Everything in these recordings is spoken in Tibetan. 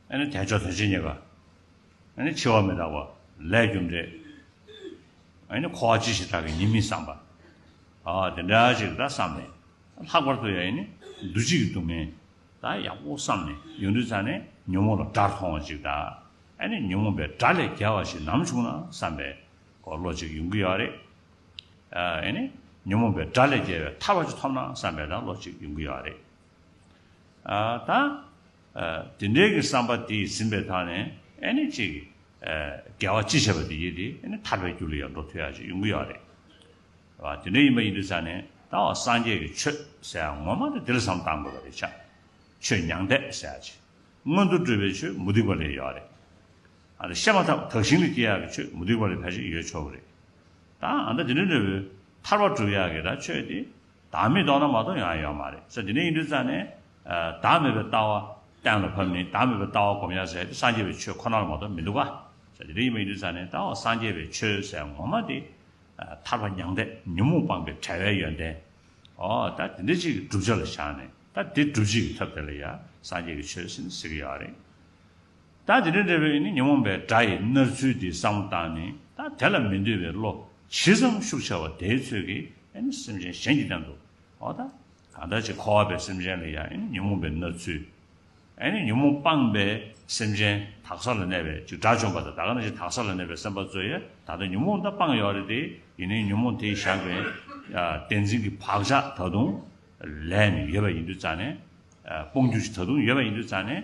དལ་འབྱོར་དོན་བྱེད་རྙེད་པ། འཆི་བ་མི་རྟག་པ་ལས་རྒྱུ་འབྲས། འཁོར་བ་ཅི་ཞིག་བདག་གི་ཡིན་མིན་བསམ་པ། དེ་འདྲ་ཅིག་ད་བསམ་ནས། ལྷག་པར་དུ་ཡང་འདུ་བྱེད་ཀྱི་སྡུག་བསྔལ་ད་ཡག་པོ་བསམ་ནས་ཡོང་དུས་ཚར་ནས་ཉོན་མོངས་ལ་དགྲར་མཐོང་བ་ཅིག་དང། ཉོན་མོངས་པའི་དགྲ་ལས་རྒྱལ་བ་ཞིག་ནམ་བྱུང་ན་བསམ་པའི་བློ་ཅིག་ཡོང་གི་ཡོད་རེད། ཉོན་མོངས་པའི་དགྲ་ལས་རྒྱལ་བའི་ཐར་བ་ཅིག་ཐོབ་ན་བསམ་པའི་བློ་ཅིག་ཡོང་གི་ཡོད་རེད། ད། དེ་འདྲའི་གི་བསམ་པ་དེ་ཟིན་པའི་ཐག་ནས་ཨེ་ནི་ཅིག། རྒྱལ་བ་སྤྱི་བྱེ་བ་དེ་ཡིས་དེ་ཨེ་ནི་ཐར་པའི་རྒྱུ་ལ་ཡང་འགྲོ་ཐུ་ཡ་ཅིག་ཡོང་གི་ཡོད་རེད། བ་དེ་འདྲའི་ཡིན་པ་ཡིན་དུ་ས་ནས་ད་འོ་སངས་རྒྱས་ཀྱི་ཆོས་ཟེར་ཡ་ངོ་མ་དེ་དེ་ལ་བསམ་བཏང་དགོས་པ་རེད་ཆ། ཆོས་མྱང་འདས་ཟེར་ཡ་ཅིག་སྔོན་དུ་འགྲོས་པའི་ཆོས་མུ་སྟེགས་པ་ལས་ཡོད་རེད། ཨ་རེ་བཤད་མ་ཐག་དག་ཞིང་ལ་སྐྱེ་ཡག་གི་ཆོས་མུ་སྟེགས་པ་ལས་ཕལ་ཆེར་ཡོད་ཆོག་གི་རེད། ད་ཨ་མདའ་དེ་འདྲའི་ནོར་བུ་ཐར་བ་སྒྲུབ་ཡག་གི་ར་ཆོས་དེ་བདག་མེད་རྟོགས་ན་མ་རྟོགས་ཡང་ཡོད་མ་རེད་ས་དེ་འདྲ་ཡིན་དུས་རྩ་ནས། བདག་མེད་པའི་ལྟ་བ་གཏན་ལ་ཕབ་ནས་བདག་མེད་པའི་ལྟ་བ་སྒོམ་ཡང་ཟེར་ཏེ་སངས་རྒྱས་པའི་ཆོས་ཁོ་ན་ལ་མ་རྟོགས་མི་འདུག་ག། ས་དེ་འདྲ་ཡིན་པ་ཡིན་དུས་རྩ་ནས་ད་འོ་སངས་རྒྱས་པའི་ཆོས་ཟེར་ངོ་མ་དེ། ཐར་པ་མྱང་འདས་ཉོན་མོངས་སྤངས་པའི་བྲལ་བའི་ཡོན་ཏན། འོ་ད་དེ་འདྲ་ཅིག་གི་བསྒྲུབ་བྱ་ལ་བཞག་ནས་ད་དེ་སྒྲུབ་བྱེད་ཀྱི་ཐབས་དེ་ལ་ཡང་སངས་རྒྱས་ཀྱི་ཆོས་ཟེར་ནས་ཟེར་གྱི་ཡོད་རེད། ད་དེ་འདྲ་འདྲ་བའི་ནི་ཉོན་མོངས་པའི་དགྲ་ཡི་མནར་ཚུལ་འདི་བསམ་བློ་བཏང་ནས་ད་དེ་ལ་མི་འདོད་པའི་བློ་ཇི་ཙམ་ཤུགས་ཆེ་བ་དེའི་ཚོད་ཀྱིས་ནི་སེམས་ཅན་གཞན་གྱི་སྟེང་དུ་འོ་ད་གང་ལྟར་ཅིག་འཁོར་བ་པའི་སེམས་ཅན་ལ་ཡང་ཉོན་མོངས་པའི་མནར་ཚུལ་ནི་ཉོན་མོངས་སྤངས་པའི་སེམས་ཅན་དག་ས་ལ་གནས་པའི་ཅིག་དགྲ་བཅོམ་པ་དང་ད་གང་ལྟར་ཅིག་དག་ས་ལ་གནས་པའི་སེམས་དཔའ་གཙོ་ཡི་ད་ལྟ་ཉོན་མོངས་ད་སྤངས་ཡོད་རེད་དེ་ཡིན་ནའི་ཉོན་མོངས་དེས་བཞག་པའི་བདེན་འཛིན་གྱི་བག་ཆགས་ད་དུང་ལས་ནི་ཡོད་པ་ཡིན་དུས་རྩ་ནས་སྤོང་རྒྱུ་ཅིག་ད་དུང་ཡོད་པ་ཡིན་དུས་རྩ་ནས་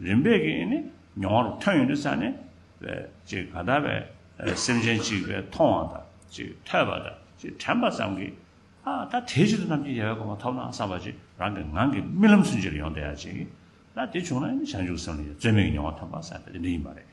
རིམ་པས་ཀྱི་ནི་མྱོང་བ་རུ་ཐོན་ཡོད་དུ་ས་ནི། ཅེས་ག་དག་པའི་སེམས་ཅན་གཅིག་པའི་མཐོང་བ་དང་ཅེས་ཐོས་པ་དང་ཅེས་དྲན་པ་ཙམ་གྱིས། ཨ་ད་དེའི་ཕྱིར་དུ་ནམ་གྱི་ཡལ་བའི་གོ་མ་ཐོབ་ན་བསམ་པ་ཅིག་རང་གི་ངང་གིས་རྨི་ལམ་ཚུན་ཆད་ལ་ཡོང་བསྡད་ཡ་བྱེད་ཀྱི། ད་དེ་བྱུང་ན་ནི་བྱང་ཆུབ་སེམས་ལ་ཡང་རྩོལ་མེད་ཀྱི་མྱོང་བ་ཐོན་པར་བསམ་པས་དེ་འདི་ཡིན་པ་རེད།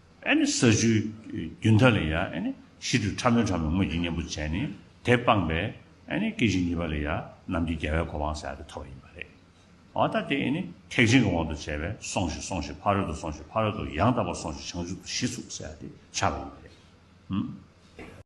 ས་བཅུའི་རྒྱུན་མཐའ་ལས་ཡང་ཤིན་ཏུ་ཕྲ་མོའི་ཕྲ་མོའི་དངོས་ཀྱི་གཉེན་པོ་བྱས་ནས་དེ་སྤངས་པའི་སྐད་ཅིག་གཉིས་པ་ལས་ཡང་རྣམས་ཀྱི་རྒྱལ་བའི་གོ་འཕང་བསལ་ཏེ་ཐོབ་པ་ཡིན་པ་རེད། འོ་ད་དེ་ཐེག་ཆེན་གྱི་དབང་དུ་བྱས་པས་སོང་ཞིག་སོང་ཞིག་ཕ་རོལ་ཏུ་སོང་ཞིག་ཕ་རོལ་ཏུ་ཡང་དག་པར་སོང་ཞིག་བྱང་ཆུབ་ཏུ་ཤི་ཚུགས་བསལ་ཏེ་འཆར་བ་ཡིན་པ་རེད།